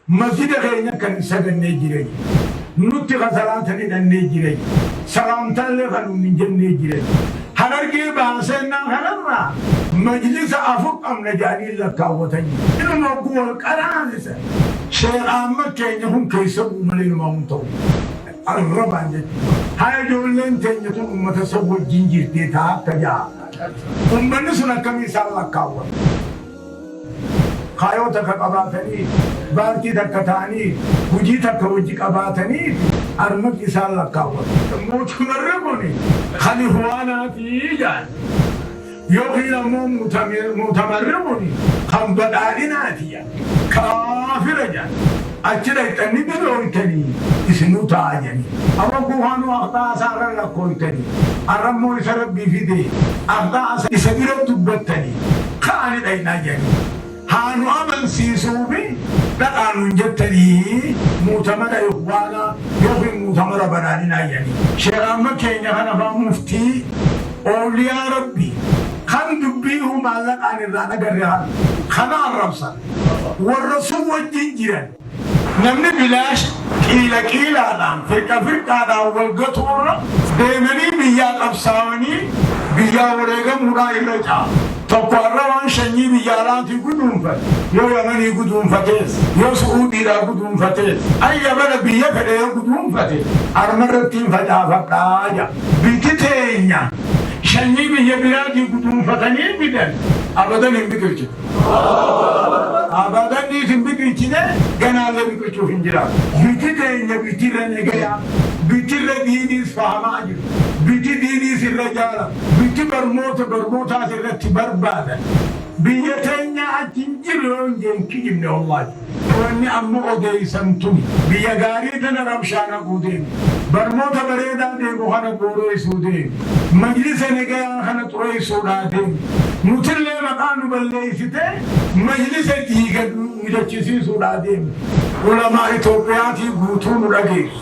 Masjida keenya kan sagannee jirany. Nutti ka salaatan hidhannee jirany. Salaamtallee ka nuun hin jennee jirany. Harargee baha seennaa kanarraa majlisa afur qabna jedhanii lakkaawwatany. Inuma hogguu wal qaraanisan Sheekh Ahmad keenya kun keessa bu'u malee inumaa hin ta'u. Arrabaan jechu. Haa ijoolleen teenya tun ummata san wajjin jirtee taa akka ja'a. Ummanni sun akkamii isaan lakkaawwata? Kaayoo takka qabaatanii, baartii takka taanii, hujii takka wajji qabaatanii armatti isaan lakkaawwatu. Mu'tamarri kuni kan Ihwaanaati jedhan. Yookiin ammoo mu'tamarri kuni kan badhaadhinaati jedhan. Kaafira jedhan. Achi dhayxanii bilooytanii isinuu ta'aa jedhaniin. Aboo kun waanuma akhxa'a isaa irra lakkooytanii arra immoo isa Rabbii fidee akhxa'a san isa bira dubbattanii ka'ani dhayxaa jedhaniin. Haa nu amansiisuufi dhaqaa nuun jettanii muutamara Ihwaanaa yookiin muutamara badhaadhinaa jedhaniin. Sheekh amma keenya kana faa muftii awliyaa Rabbii kan dubbii uu maallaqaan irraa hin agarre kana arrabsan. Warra sun wajjin jiran. Namni bilaash qiila qiilaadhaan, firqa firqaadhaan wal gatuu irra deemanii biyyaa qabsaawanii biyyaa wareegamuudhaa irra caala. Tokko har'a waan shanyii biyya alaatii guduunfate, yoo Yamanii guduunfatees, yoo Su'uudiidhaa guduunfatees, an Yamana biyya fedhe yoo guduunfate harma irrattiin facaafadha jedha. Biyyi teenya shanyii biyya biraatii guduunfatanii fidan abadan hin biqilchitu. Abadan dhiisu hin biqilchine ganaallee biqilchuuf hin jiraatu. Biti teenya bitirra nagayaa, bitirra diiniis fahamaa jiru, biti diiniis irra jaala, biti barmoota barmootaas irratti barbaadan. Biyya teenya achi hin jiru yoo hin jeen kijibne wallahi. Wanni amma odeeysan tuni biyya gaarii tana rabshaa naquu deeme. Barmoota bareedaa deemu kana booroysuu deeme. Majlisa negayaa kana xureysuudhaa deeme. Nutillee maqaa nu balleeysitee majlisa diigan nu muudachisiisuudhaa deeme. Ulamaa Itoophiyaatii guutuu nu dhageeysu.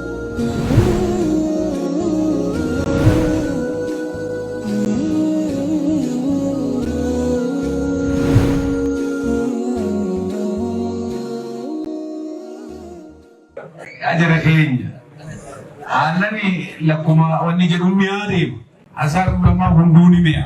Ajara keenya aannan lakkuma wanni jedhuun mi'aa deema. Asaarri lammaa hunduu ni mi'a.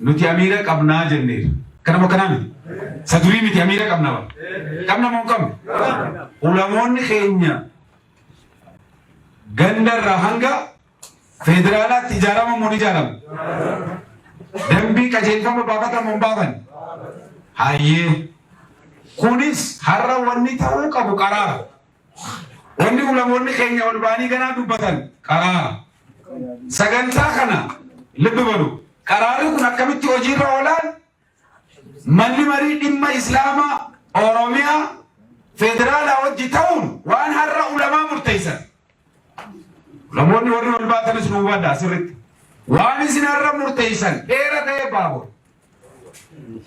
Nuti amiira qabnaa jenneera. Kana moo kanaa miti? Isa durii miti amiira qabna ba. Qabna moo hin qabnu? Ulamoonni keenya ganda irraa hanga federaalaatti ijaarama moo ni ijaarama? Dambii qajeelfama baafata moo hin baafan? Hayyee. Kunis har'a wanni ta'uu qabu qaraara. Wanni ulamoonni keenya ol ba'anii ganaa dubbatan qaraara. Sagantaa kana lubbi balu. Qaraarri kun akkamitti hojiirra oolaan manni marii dhimma Islaamaa Oromiyaa federaalaa wajji ta'uun waan har'a ulamaa murteessan. Ulamoonni warri ol baatanis nu hubadhaa sirriitti. Waan isin har'a murteessan dheera ta'ee baabur.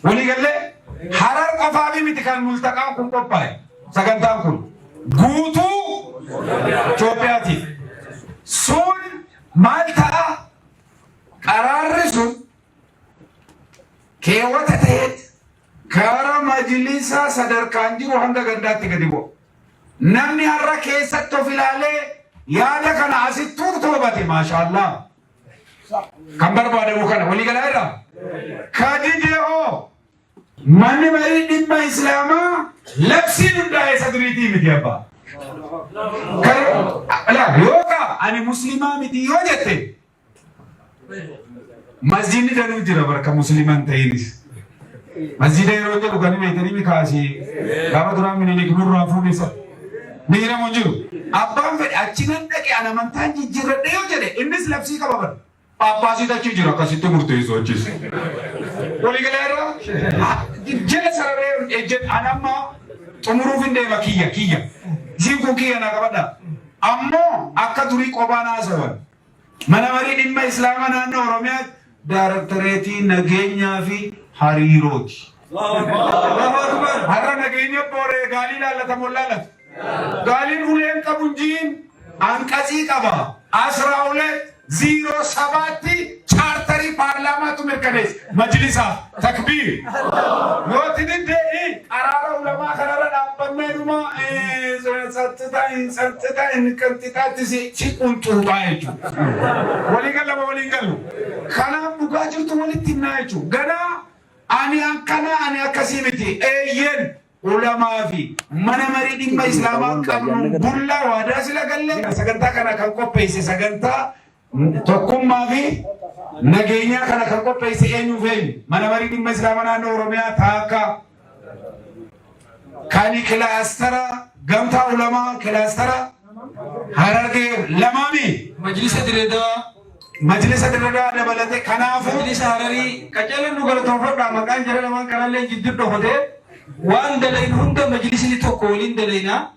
Walii gallee harar qofaafii miti kan multaqaan kun qophaa'e sagantaan kun guutuu Itoophiyaatiif. Sun maal ta'a? Qaraarri sun keewwata ta'eet karaa majlisaa sadarkaan jiru hanga gandaatti gadi bu'a. Namni har'a keessatti of ilaalee yaada kana asitti hurtoobate maashaallah Kan barbaadamu kana walii galaa irraa. Ka didee hoo manni marii dhimma Islaamaa labsiin hundaa'e isa duriitii miti abbaa. Yoo ka ani muslimaa miti yoo jette masjiinni danuu jira barka musliman ta'inis. Masjiida yeroo jedhu kan beektanii mikaasi gaafa duraan minilik nurraa fuudhe san ni hiramu hin jiru. Abbaan fedhe achi nan dhaqe an amantaan jijjiirradhe yoo jedhe innis labsii qaba bar. Phaaphaasiit achi jira akkasitti murteessu achis. Waliigalaa irraa jala sararee ejjet an amma xumuruuf hin deema kiyya kiyya. Isiin kun kiyya na qabadha. Ammoo akka durii qophaan haasawan Mana Marii Dhimma Islaamaa Naannoo Oromiyaatti Daarektoreetii Nageenyaa fi Hariirooti. Har'a nageenya booree gaalii laallatamu ol laallatu. Gaaliin uleen qabu hin jiin anqatsii qaba. Asraa ulet ziiroo sabaatti chaartarii paarlaamaatu mirkaneessa. Majlisa, takbiir. Yoo ti didde i qaraara ulamaa kanarra dhaabbanna inuma saxxita in saxxita in qinxita itti si si qunxuuxaa jechuudha. Walii gallama waliin gallu. Kanaaf dhugaa jirtu walitti himnaa jechuudha. Ganaa ani akkana ani akkasii miti eeyyeen ulamaa fi mana marii dhimma islaamaa qabnu bullaa waadaa sila galle sagantaa kana kan qopheesse sagantaa Tokkummaa fi nageenyaa kana kan qopheesse eenyuuf eenyu? Mana marii dhimma Islaama naannoo Oromiyaa taakka kan kilaastara gamtaa ulamaa kilaastara Harargee lamaami Majlisa Direedawaa, majlisa dirredaa dabalate kanaafuu Majlisa Hararii, qajeelan nu galatoomfadhaa maqaan jara lamaan kanallee jidduu dhokatee waan dalayin hunda majlisni tokko waliin dalayinaa.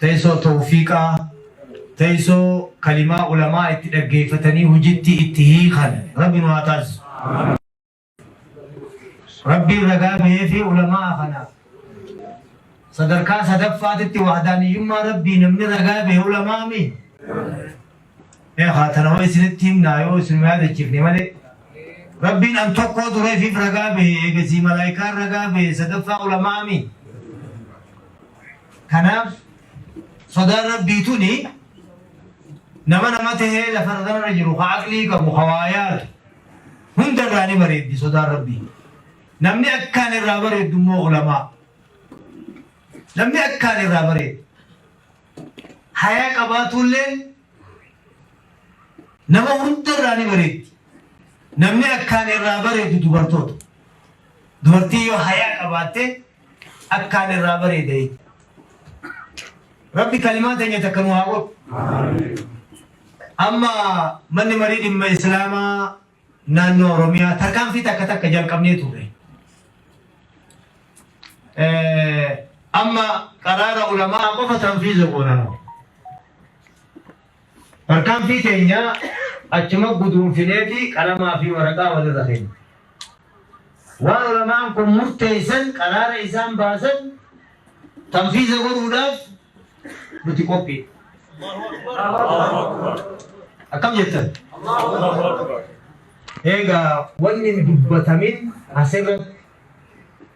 Teessoo towfiiqaa, teessoo kalimaa ulamaa itti dhaggeeffatanii hujitti itti hiikan Rabbi nu haa taasisu. Rabbiin ragaa baheefii ulamaa kana sadarkaa sadaffaatitti wahdaaniyyummaa Rabbii namni ragaa bahe ulamaa mii? Mee haa tanama isinitti himnaa yoo isinuma yaadachiifne malee Rabbiin al tokkoo tureefiif ragaa bahe eegasii malaayikaan ragaa bahe sadaffaa ulamaa'ami. Kanaaf sodaan Rabbii tuni nama nama tahee lafa kanarra jiru ka aqlii qabu ka waa yaadu hundarraa ni bareeddi sodaan Rabbii. Namni akkaan irraa bareeddu immoo ulamaa. Namni akkaan irraa bareeddu. Hayaa qabaatuulleen nama hundarraa ni bareeddi. Namni akkaan irraa bareedu dubartoota. Dubartii yoo hayaa qabaatte akkaan irraa bareeda jechuudha. Rabbi kalimaa teenya takka nu haa godhu. Amma manni marii dhimma Islaamaa Naannoo Oromiyaa tarkaanfii takka takka jalqabnee turre. Amma qaraara ulamaa qofa tanfiiza goona nu. Tarkaanfii keenya achuma guduunfinee fi qalamaa fi waraqaa walirra keenya. Waan ulamaan kun murteessan, qaraara isaan baasan, tanfiiza godhuudhaaf nuti qophiidha. Akkam jettan? Eegaa wanni hin dubbatamin asirratti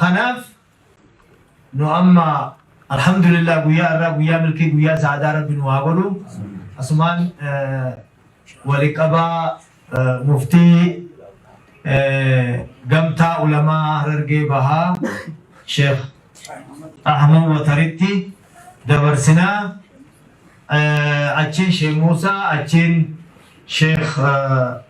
Kanaaf nu amma alhamdulillah guyyaa irraa guyyaa milkii guyyaa sa'aadaa rabbi nu haa godhu. Asumaan waliqabaa muftii gamtaa ulamaa harargee bahaa Sheekh Ahmad Wataritti dabarsinaa achiin Sheekh Muusaa achiin Sheekh